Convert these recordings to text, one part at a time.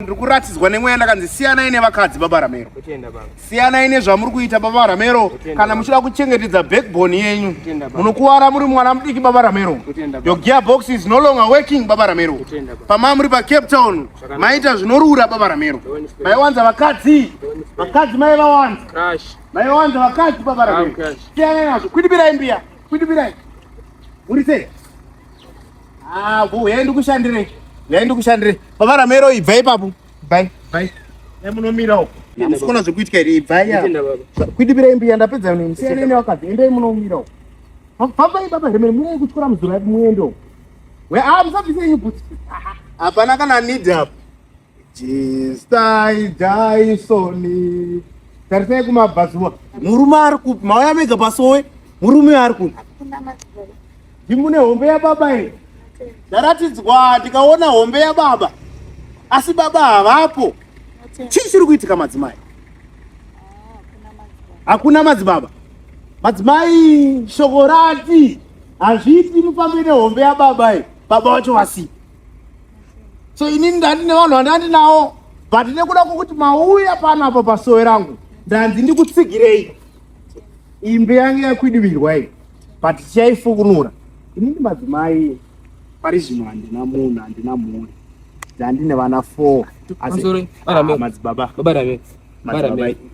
ndiri kuratidzwa nemweya ndakanzi siyanai nevakadzi baba ramero siyanai nezvamuri kuita baba ramero kana muchida kuchengetedza backbone yenyu munokuvara muri mwana mudiki baba ramero your gear box is no longer working baba ramero pamaa muri pacape town maita zvinorura baba ramero maiwanza vakadzi vakadzi maivawanza maiwanza vakadzi baba ramero siyanai nazvo kwidibirai mbiya kwidibirai muri sei Ah, bu, yai ndikushandire. Yai ndikushandire. Baba Ramero ibvai papo. Bye. Bye. Yai munomira uko. Musikona zvekuitika here ibvai ya. Kuidibira imbi yandapedza nini. Siyana ine wakadzi. Endai munomira uko. Fambai baba Ramero murai kuchikora muzura muendo. We ah musabvise nyubuti. Hapana kana need up. Jistai Jaisoni. Tarisai kumabhazuva. Murume ari kupi? Mauya mega pasowe. Murume ari kupi? Ndimune hombe yababa here? Ndaratidzwa ndikaona hombe yababa. Asi baba havapo. Chii chiri kuitika madzimai? Hakuna madzibaba. Madzimai shoko rati hazviiti mufambe nehombe yababa iyi. Baba wacho vasipi. so ini ndati nevanhu vandandi nawo but nekuda kwokuti mauya pano apo pasowe rangu ndanzi ndikutsigirei imbe yange yakwidivirwa iyi but chaifukunura ini ndi madzimai pari zvino handina munhu handina mhuri ndandine vana four madzibaba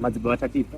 madzibaba tatipa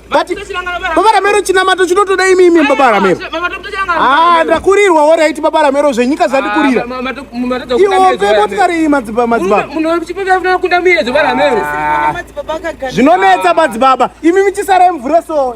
but baba ramero chinamato chinotoda imi imi baba ramero ah ndakurirwa wo right baba ramero zvenyika zvandikurira ah, iwo pe motikari iyi madzibaba madzibaba zvinonetsa madzibaba imi michisara mvura so